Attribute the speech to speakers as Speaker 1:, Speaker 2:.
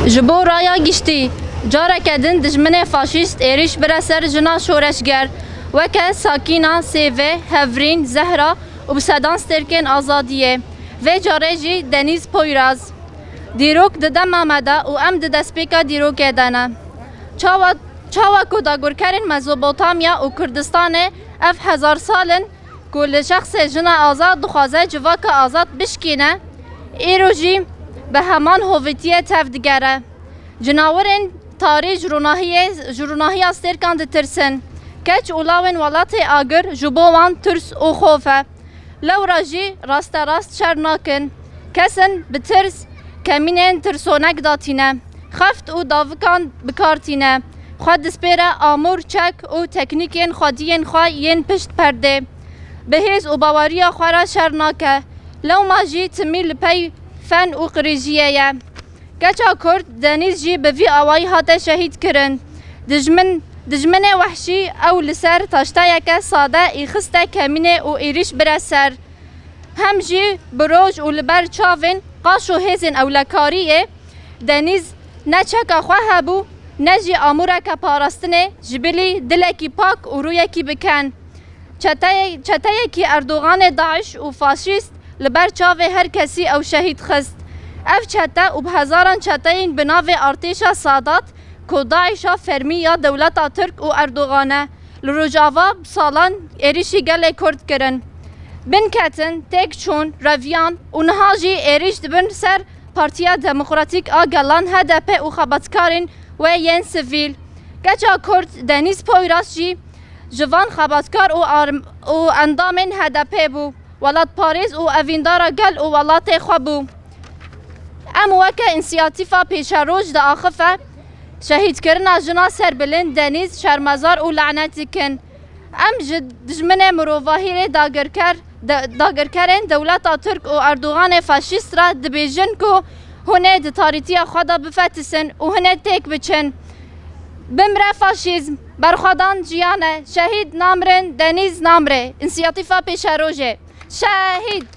Speaker 1: Ji bo raya giştî, careke din dijminê faşîst êrîş bire ser jina şoreşger weke Sakîna, Sêve, Hevrîn, Zehra û bi sedan stêrkên azadiyê, vê carê jî Denîz Poyraz. Dîrok di dema me de û em di destpêka dîrokê de ne. Çawa çawa ku dagirkerên Mezopotamya û Kurdistanê ev hezar sal in, Ku li şexsê jina azad dixwaze civaka azad bişkîne, îro jî bi heman hovîtiyê tev digere. Cinawirên tarî ji ronahiyê ji ronahiya stêrkan ditirsin. Keç û lawên welatê agir ji bo wan tirs û xof e. Lewra jî rasterast şer nakin. Kesin bi tirs kemînên tirsonek da tîne, xeft û davikan bi kar tîne, xwe dispêre amûr, çek û teknîkên xwediyên xwe yên pişt perdê. Bi hêz û baweriya xwe re şer nake. Lewma jî timî li pey fen û qirêjiyê ye. Keça kurd Denîz jî bi vî awayî hate şehîd kirin. Dijmin, dijminê wehşî ew li ser taşteyeke sade î xiste kemînê û êrîş bire ser. hem jî bi roj û li ber çavên qaş û hêzên ewlekariyê Denîz ne çeka xwe hebû ne jî amûreke parastinê ji bilî dilekî pak û rûyekî bi ken. Çeteyê çeteyekî Erdoganê DAIŞ û faşîst li ber çavê her kesî ew şehîd xist. Ev çete û bi hezaran çeteyên bi navê artêşa Sadat ku DAIŞa fermî ya dewleta Tirk û Erdogan e, Li Rojava bi salan êrîşî gelê Kurd kirin. Bin ketin, têk çûn, reviyan û niha jî êrîş dibin ser Partiya Demokratîk a Gelan, hdp û xebatkarên wê yên sivîl. Keça Kurd Denîz Poyraz jî ji van xebatkar û endamên HDP'ê bû. Welatparêz û evîndara gel û welatê xwe bû. Em weke însiyatîfa pêşeroj diaxife. Şehîdkirina jina Serbilind Denîz şermezar û lanet dikin. Em ji dijminê mirovahî rê dagirker, dagirkerên dewleta Tirk û Erdoganê faşîst re dibêjin ku hûn ê di tarîtiya xwe de bifetisin û hûn ê têk biçin. Bimre faşîzm! Berxwedan jiyan e! Şehîd namirin, Denîz namire! Însiyatîfa Pêşerojê! Şehîd!